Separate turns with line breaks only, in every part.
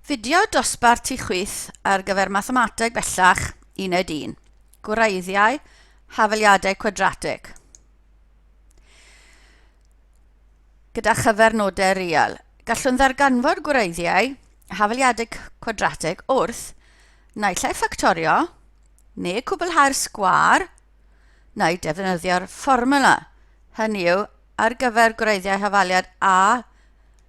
Fideo dosbarth ti chwith ar gyfer mathemateg bellach uned 1. Gwreiddiau, hafaliadau cwadratig. Gyda chyfernodau real. Gallwn ddarganfod gwreiddiau hafaliadau cwadratig wrth naill ai ffactorio neu cwblhau'r sgwar neu defnyddio'r fformula. Hynny yw, ar gyfer gwreiddiau hafaliad a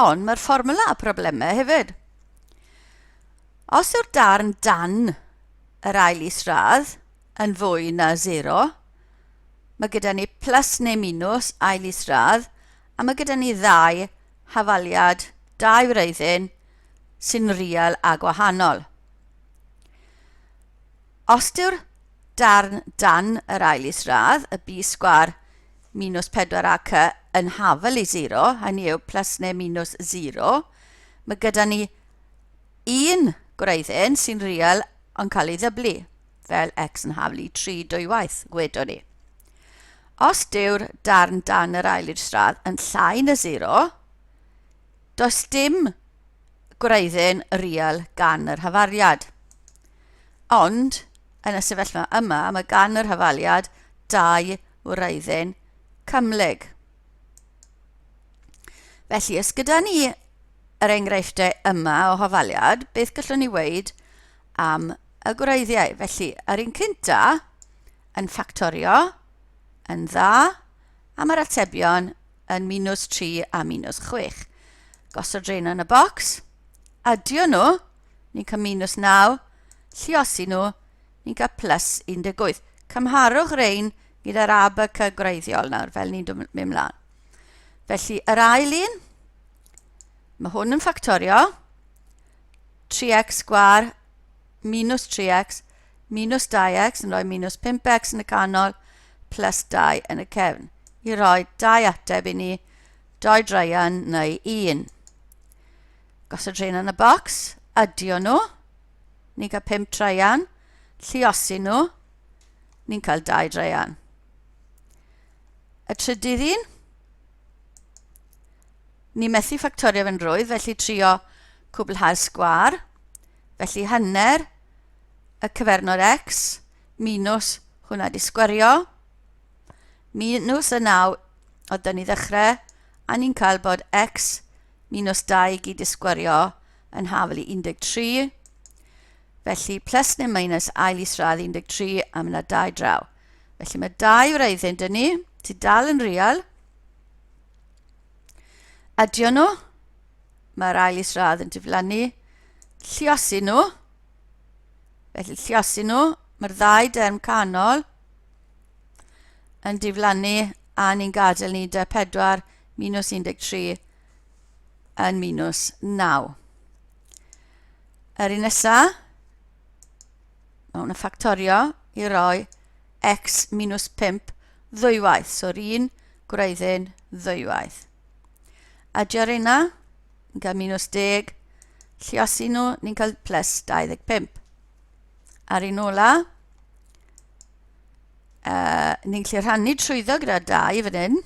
Ond mae'r fformwla a problemau hefyd. Os yw'r darn dan yr ail isradd yn fwy na 0, mae gyda ni plus neu minus ail isradd, a mae gyda ni ddau hafaliad, dau wreiddyn sy'n real a gwahanol. Os dyw'r darn dan yr ail isradd, y B sgwâr minws 4ac yn hafel i 0, hynny yw plus neu minws 0, mae gyda ni un gwreiddyn sy'n real yn cael ei ddyblu, fel x yn hafel i 3 dwywaith, gwedwn ni. Os dyw'r darn dan yr ail isradd yn llai na 0, Does dim gwreiddyn rial gan yr hafaliad. Ond, yn y sefyllfa yma, mae gan yr hafaliad dau wreiddyn cymhlyg. Felly, os gyda ni yr enghreifftiau yma o hafaliad, beth gallwn ni weid am y gwreiddiau? Felly, yr un cynta yn ffactorio yn dda, a mae'r atebion yn minws 3 a minws 6. Gosod rheina yn y bocs, adio nhw, ni'n cael minws 9, lliosi nhw, ni'n cael plus 18. Cymharwch rein gyda'r abac y gwreiddiol nawr, fel ni'n mynd mlaen. Felly, yr ail un, mae hwn yn ffactorio, 3x gwar minus 3x, minus 2x yn rhoi minus 5x yn y canol, plus 2 yn y cefn, i roi dau ateb i ni, doi draian neu un. Gosod rhain yn y bocs, adio nhw, ni'n cael 5 traian, lliosi nhw, ni'n cael 2 draian. Y trydydd un, ni methu ffactorio fe'n rwydd, felly trio cwblhau'r sgwar, Felly hanner y cyfernod x minus hwnna di sgwario, minus y 9 oedd dyn ni ddechrau, a ni'n cael bod x minus 2 i gyd i sgwario yn hafel i 13. Felly plus neu minus ail isradd 13 a mae yna 2 draw. Felly mae 2 wreiddyn dyn ni, ti dal yn real. Adio nhw. Mae'r ail isradd yn diflannu. Lliosi nhw. Felly lliosi nhw. Mae'r ddau derm canol yn diflannu a ni'n gadael ni 4 minus 13 yn minus 9. Yr un nesaf, mae hwn yn ffactorio i roi x minus 5 ddwywaith. So'r un gwreiddyn ddwywaith. A dy rina, yn cael minus 10, lliosi nhw, ni'n cael plus 25. Ar un ola, uh, ni'n gallu rhannu trwyddo gyda 2 fan hyn.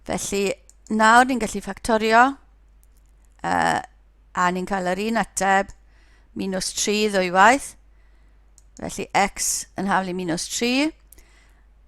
Felly, nawr ni'n gallu ffactorio, uh, a ni'n cael yr un ateb, minus 3 ddwywaith. Felly, x yn haflu minus 3.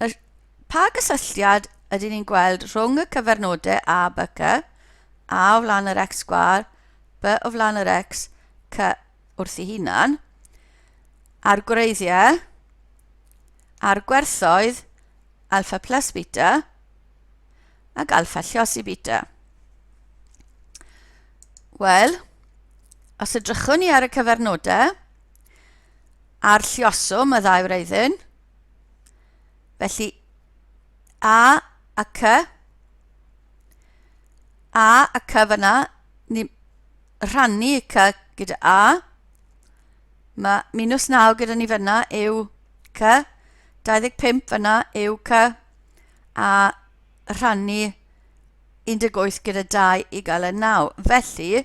Yr, pa gysylltiad ydyn ni'n gweld rhwng y cyfernodau a by cy, a o flaen yr x sgwar, by o flaen yr x, cy wrth ei hunan, a'r gwreiddiau, a'r gwerthoedd alfa plus beta ac alfa lliosi beta. Wel, os edrychwn ni ar y cyfernodau, a'r lluoswm, y ddau wreiddyn. Felly A a C. A a C fyna, ni rhannu y C gyda A. Mae minus 9 gyda ni fyna yw C, 25 fyna yw C, a rhannu 18 gyda 2 i gael y 9. Felly,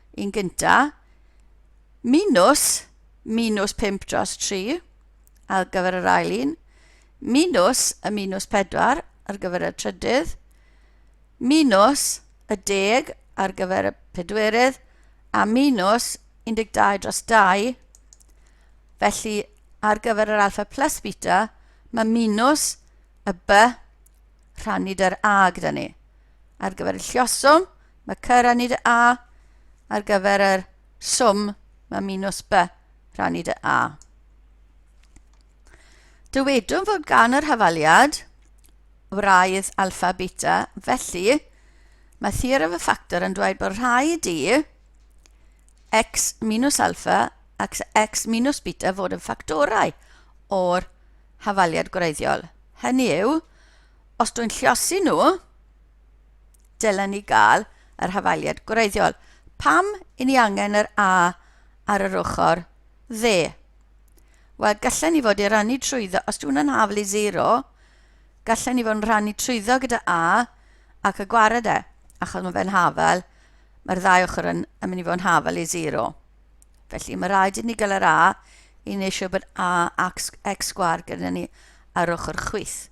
yn gyntaf, minws, minws 5 dros 3 ar gyfer yr ail un, minws y minws 4 ar gyfer y trydydd, minws y deg ar gyfer y pedwerydd, a minws 12 dros 2. Felly, ar gyfer yr alfa plus beta, mae minws y b rhannu dy'r a gyda ni. ar gyfer y llioswm, mae cy rannu dy a, ar gyfer yr swm, mae minus b rannu dy a. Dywedwn fod gan yr hafaliad wraidd alfa beta, felly mae theorem y ffactor yn dweud bod rhaid i x minus alfa ac x minus beta fod yn ffactorau o'r hafaliad gwreiddiol. Hynny yw, os dwi'n lliosi nhw, dylen ni gael yr hafaliad gwreiddiol. Pam i ni angen yr A ar yr ochr dde? Wel, gallen ni fod i rannu trwyddo, os dwi'n yn haflu 0, gallen ni fod yn rhannu trwyddo gyda A ac y gwared e, achos mae fe'n hafel, mae'r ddau ochr yn, yn mynd i fod yn hafel i 0. Felly mae rhaid i ni gael yr A i wneud siŵr bod A ac x sgwar gyda ni ar ochr chwith.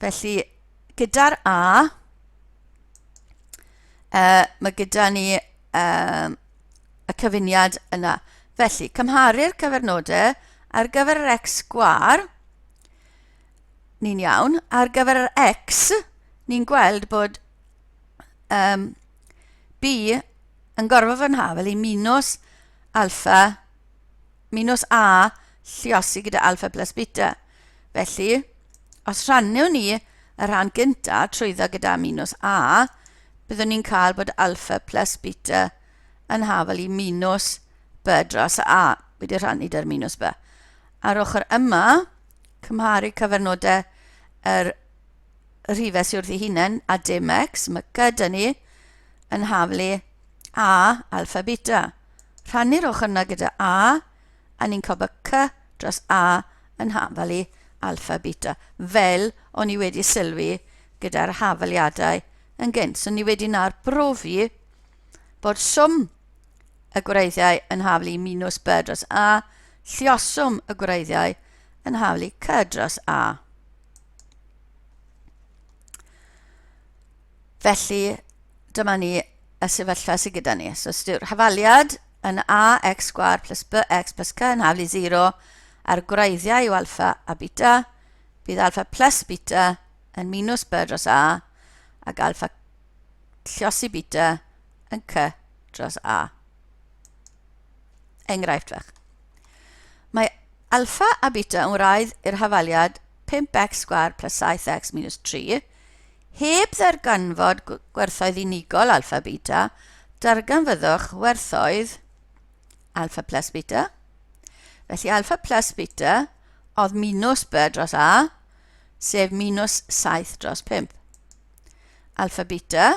Felly, gyda'r A, uh, mae gyda ni uh, y cyfuniad yna. Felly, cymharu'r cyfernodau ar gyfer yr x gwar, ni'n iawn. Ar gyfer yr x, ni'n gweld bod um, B yn gorfod fy nhaw fel i minus alfa minws a lluosi gyda alpha plus beta. Felly, os rhannu ni y rhan gyntaf trwyddo gyda minws a, byddwn ni'n cael bod alpha plus beta yn hafel i minws b dros y a, wedi rhannu dy'r minws b. Ar ochr yma, cymharu cyfernodau yr rhifau sydd wrth ei hunain a dim x, mae gyda ni yn haflu A, alpha, beta. Rhannu'r ochr yna gyda A, a ni'n cael bod C dros A yn hafalu alpha, beta. Fel o'n i wedi sylwi gyda'r hafaliadau yn gynt. So ni wedi na'r brofi bod swm y gwreiddiau yn hafalu minus B dros A, llioswm y gwreiddiau yn hafalu C dros A. Felly, dyma ni y sefyllfa sydd gyda ni. So, yw'r hafaliad yn ax sgwar plus bx plus c yn haflu 0 a'r gwreiddiau yw alfa a beta, bydd alfa plus beta yn minus b dros a ac alfa llosi beta yn c dros a. Enghraifft fach. Mae alfa a beta yn wraidd i'r hafaliad 5x sgwar plus 7x minus 3 Heb ddarganfod gwerthoedd unigol alpha beta, darganfyddwch werthoedd alpha plus beta. Felly alpha plus beta oedd minus b dros a, sef minus 7 dros 5. Alpha beta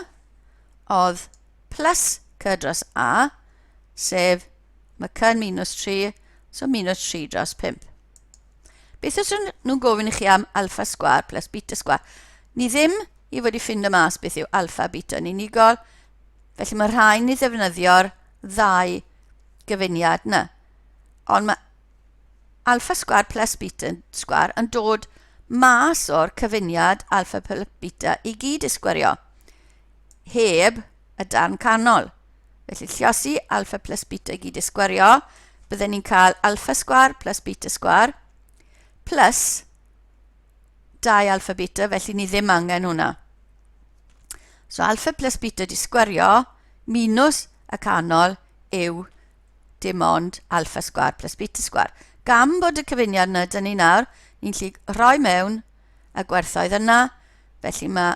oedd plus c dros a, sef mae c yn minus 3, so minus 3 dros 5. Beth os ydyn nhw'n gofyn i chi am alfa sgwar plus beta sgwar? Ni ddim i fod i ffind y mas beth yw alfa a beta yn unigol, felly mae rhaid ni ddefnyddio'r ddau gyfuniad yna. Ond mae alfa sgwar plus beta sgwar yn dod mas o'r cyfuniad alfa plus beta i gyd i sgwario, heb y darn canol. Felly lliosi alfa plus beta i gyd i sgwario, bydden ni'n cael alfa sgwar plus beta sgwar plus 2 alfa beta, felly ni ddim angen hwnna. So alfa plus beta di sgwario minus y canol yw dim ond alfa sgwar plus beta sgwar. Gam bod y cyfuniad yna, dyn ni nawr, ni'n lli rhoi mewn y gwerthoedd yna, felly mae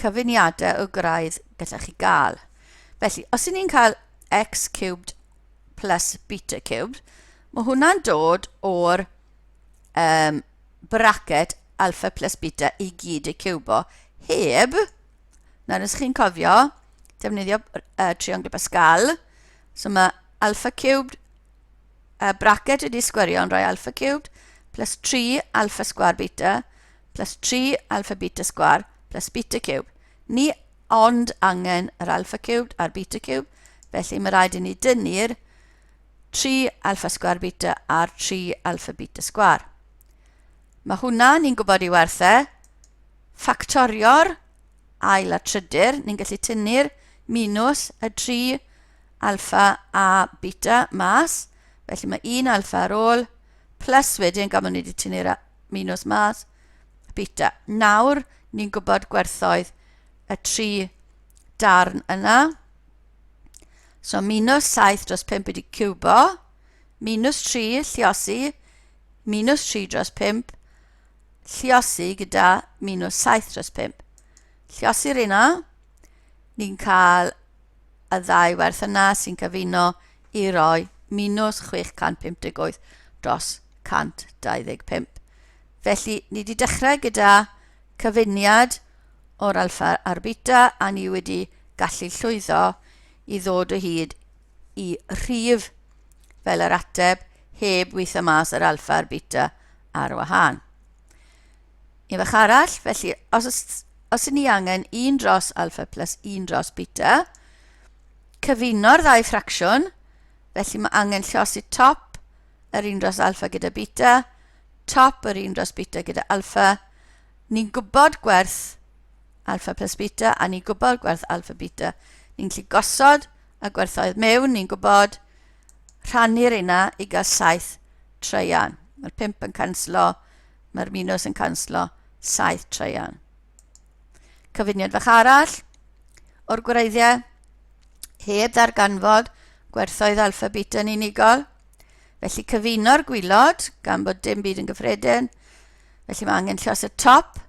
cyfuniadau o graidd gallech chi gael. Felly, os y'n ni'n cael x cubed plus beta cubed, mae hwnna'n dod o'r um, bracket alpha plus beta i gyd y cubo, heb, nawr os chi'n cofio, defnyddio uh, triongl Pascal, so mae alpha cubed y braced ydy sgwerion rhai alpha cubed plus 3 alpha sgwar beta plus 3 alpha beta sgwar plus beta cubed. Ni ond angen yr alpha cubed a'r beta cubed, felly mae rhaid i ni dynnu'r 3 alpha sgwar beta a'r 3 alpha beta sgwar. Mae hwnna, ni'n gwybod i werthau, ffactorio'r ail a trydyr, ni'n gallu tynnu'r minus y tri alfa a beta mas. Felly mae un alfa ar ôl, plus wedyn gan bod ni wedi tynnu'r minus mas, beta. Nawr, ni'n gwybod gwerthoedd y tri darn yna. So minus 7 dros 5 wedi cubo, minus 3 lliosi, minus 3 dros 5, Lliosi gyda minus 7 dros 5. Lliosi'r un o. Ni'n cael y ddau werth yna sy'n cyfuno i roi minus 658 dros 125. Felly, ni wedi dechrau gyda cyfuniad o'r alfa a'r beta a ni wedi gallu llwyddo i ddod o hyd i rhif fel yr ateb heb weithio mas yr alfa a'r beta ar wahân. Un fach arall, felly os, os, os ni angen un dros alfa plus un dros beta, cyfuno'r ddau ffracsiwn, felly mae angen llosi top yr un dros alfa gyda beta, top yr un dros beta gyda alfa. Ni'n gwybod gwerth alfa plus beta a ni'n gwybod gwerth alfa beta. Ni'n gallu gosod a gwerthoedd mewn, ni'n gwybod, rhannu reina i gael saith treian. Mae'r pimp yn canslo, mae'r minws yn canslo, saith treian. Cyfuniad fach arall o'r gwreiddiau, heb ddarganfod gwerthoedd alfa beta yn unigol. Felly cyfuno'r gwylod, gan bod dim byd yn gyffredin. Felly mae angen llos y top,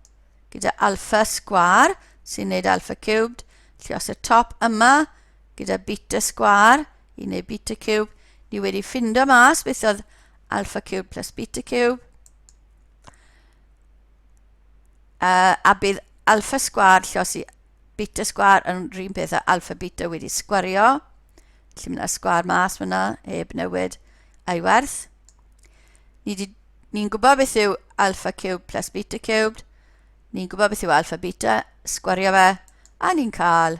gyda alpha sgwâr sy'n neud alpha cubed, lle os y top yma gyda beta sgwâr i neud beta cube, ni wedi ffindo mas beth oedd alpha cube plus beta cube. Uh, a bydd alpha sgwar lle os i beta sgwar yn rhywun peth a alpha beta wedi sgwario. Lle mae yna sgwar mas fyna, heb newid a'i werth. Ni'n ni gwybod beth yw alpha cubed plus beta cubed. Ni'n gwybod beth yw alpha beta, sgwario fe, a ni'n cael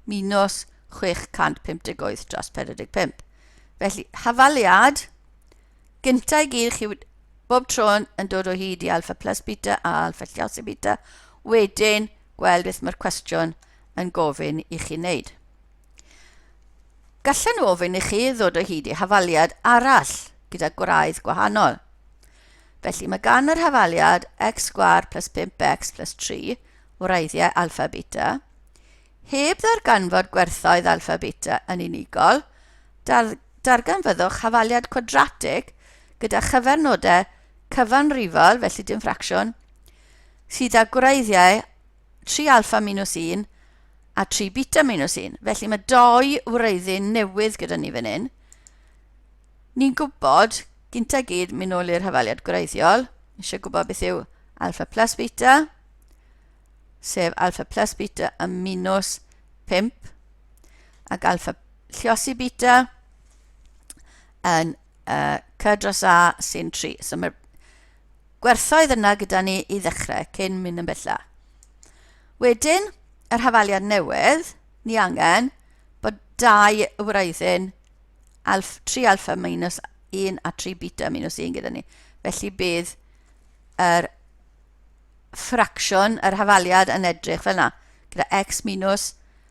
minus 658 dros 45. Felly, hafaliad, gyntaf i gyd, chi bob tro yn dod o hyd i alpha plus beta a alpha llios i beta, wedyn gweld beth mae'r cwestiwn yn gofyn i chi wneud. Gallen nhw ofyn i chi ddod o hyd i hafaliad arall gyda gwraidd gwahanol. Felly mae gan yr hafaliad x sgwar plus 5x plus 3 wraeddiau alfa beta, heb ddarganfod gwerthoedd alfa beta yn unigol, dar darganfyddwch hafaliad cwadratig gyda chyfernodau cyfanrifol, felly dim ffracsiwn, sydd â gwreiddiau tri alfa minus 1 a tri beta minus 1. Felly mae doi wreiddyn newydd gyda ni fan hyn. Ni'n gwybod, gynta gyd, mynd nôl i'r hafaliad gwreiddiol, eisiau gwybod beth yw alfa plus beta, sef alfa plus beta a minus 5, ac alfa lliosi beta yn uh, c dros a sy'n 3. So mae'r gwerthoedd yna gyda ni i ddechrau cyn mynd yn bella. Wedyn, yr hafaliad newydd, ni angen bod dau wraiddyn alf, 3 alfa minus 1 a 3 beta minus 1 gyda ni. Felly bydd yr ffracsiwn, yr hafaliad yn edrych fel yna, gyda x minus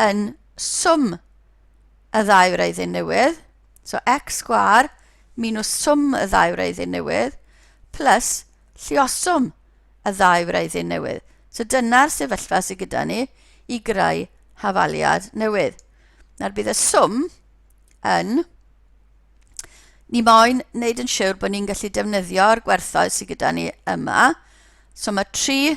yn swm y ddau wreiddyn newydd, so x sgwar minus swm y ddau wreiddyn newydd, plus llioswm y ddau wreiddyn newydd. So dyna'r sefyllfa sydd gyda ni i greu hafaliad newydd. Nawr bydd y swm yn... Ni moyn wneud yn siwr bod ni'n gallu defnyddio'r gwerthoedd sydd gyda ni yma. So mae 3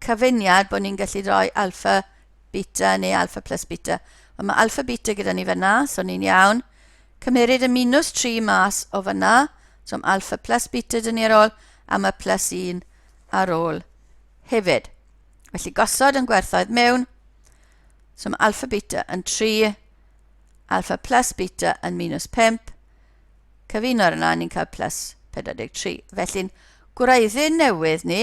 cyfuniad bod ni'n gallu rhoi alpha, beta neu alpha plus beta. Ond mae alpha beta gyda ni fyna, so ni'n iawn. Cymeryd y minus 3 mas o fyna, so mae alpha plus beta dyn ni ar ôl, a mae plus 1 ar ôl hefyd. Felly gosod yn gwerthoedd mewn, so mae alpha beta yn 3, alpha plus beta yn minus 5, cyfuno ar yna ni'n cael plus 43. Felly'n gwreiddyn newydd ni,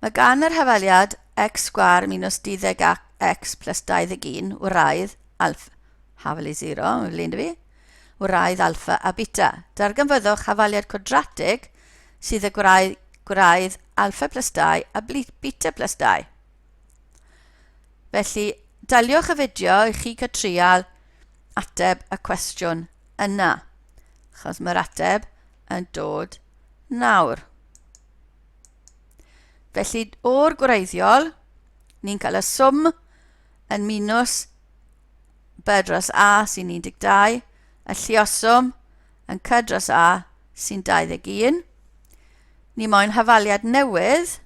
Mae gan yr hafaliad x sgwâr minus 12 ac x plus 21 wraidd alfa, hafali 0, mae'n flin dy fi, wraidd alfa a beta. Darganfyddwch hafaliad cwadratig sydd y gwraidd, gwraidd alfa plus 2 a beta plus 2. Felly, daliwch y fideo i chi cael trial ateb y cwestiwn yna, achos mae'r ateb yn dod nawr. Felly, o'r gwreiddiol, ni'n cael y swm yn minus B dros A sy'n 12, y llioswm yn C dros A sy'n 21. Ni moyn hafaliad newydd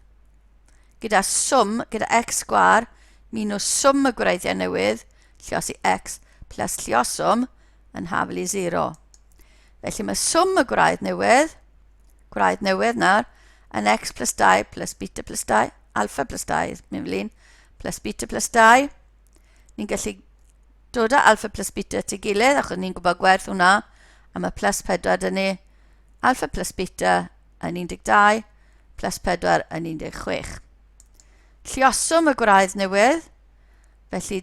gyda swm, gyda x sgwar, minus swm y gwreiddiau newydd, lliosi x, plus llioswm yn haflu 0. Felly mae swm y gwraidd newydd gwraidd newydd nawr, yn x plus 2 plus beta plus 2, alfa plus 2, mynd fel un, plus beta plus 2. Ni'n gallu dod â alfa plus beta at ei gilydd, achos ni'n gwybod gwerth hwnna, a mae plus 4 dyn ni. Alfa plus beta yn 12, plus 4 yn 16. Llioswm y gwraidd newydd, felly